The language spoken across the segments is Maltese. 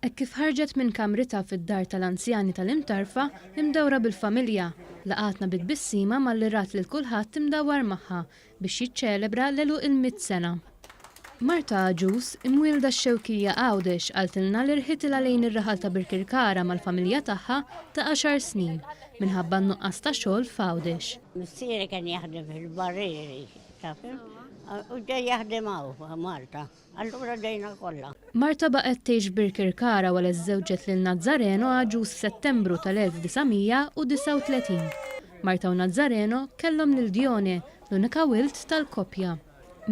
Hekk kif ħarġet minn kamritha fid-dar tal-anzjani tal-Imtarfa, imdawra bil-familja, laqgħatna bi tbissima malli rat lil kulħadd imdawwar magħha biex jiċċelebra l-għeluq il-mitt sena. Marta għaġuż, imwielda x-Xewkija Għawdex qaltilna li rħitilha lejn ir-raħal ta' Birkirkara mal-familja tagħha ta' għaxar snin minħabba n-nuqqas ta' xogħol f'Għawdex. Missieri kien jaħdem fil-barrieri Ta' fim? U ġej jaħdem hawn Malta. Allura ġejna kollha. Marta baqgħet tgħix f'Birkirkara wara li żżewġet lil Nazzareno għaġuż f'Settembru tal-1939. Marta u Nazzareno kellhom lil Dione, l-unika wild tal-koppja.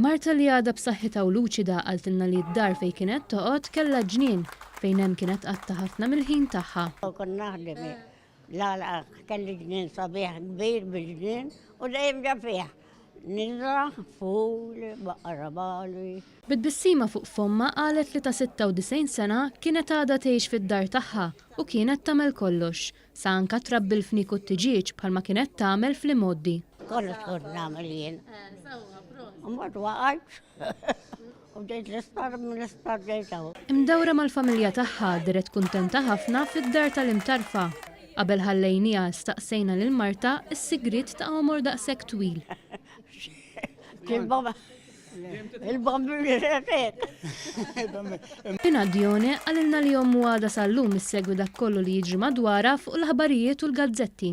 Marta li għadha b'saħħitha u luċida qaltilna li d-dar fejn kienet toqgħod kellha ġnien fejn hemm kienet tqatta' ħafna mill-ħin tagħha. Kont naħdem L-għalqa kelli ġnien sabiħ kbir bil-ġnien u dejjem ġa fih nidra, ful, baqra bali. Bi tbissima fuq fommha qalet li ta' 96 sena kienet għadha tgħix fid-dar tagħha u kienet tagħmel kollox, sa anka trabbi l-fniek u t-tiġieġ bħalma kienet tagħmel fl-imgħoddi. Kollox kont nagħmel jien. Imbagħad waqgħet. U bdejt l-isptar mill-isptar bdejt hawn. Imdawra mal-familja tagħha deret kuntenta ħafna fid-dar tal-imtarfa. Qabel ħallejniha staqsejna lil martha s-sigriet ta' għomor daqshekk twil. Il-bambini retek. Pina Dione qalilna li ommu għadha sal-lum issegwi dak kollu li jiġri madwarha fuq l-aħbarijiet u l-gazzetti.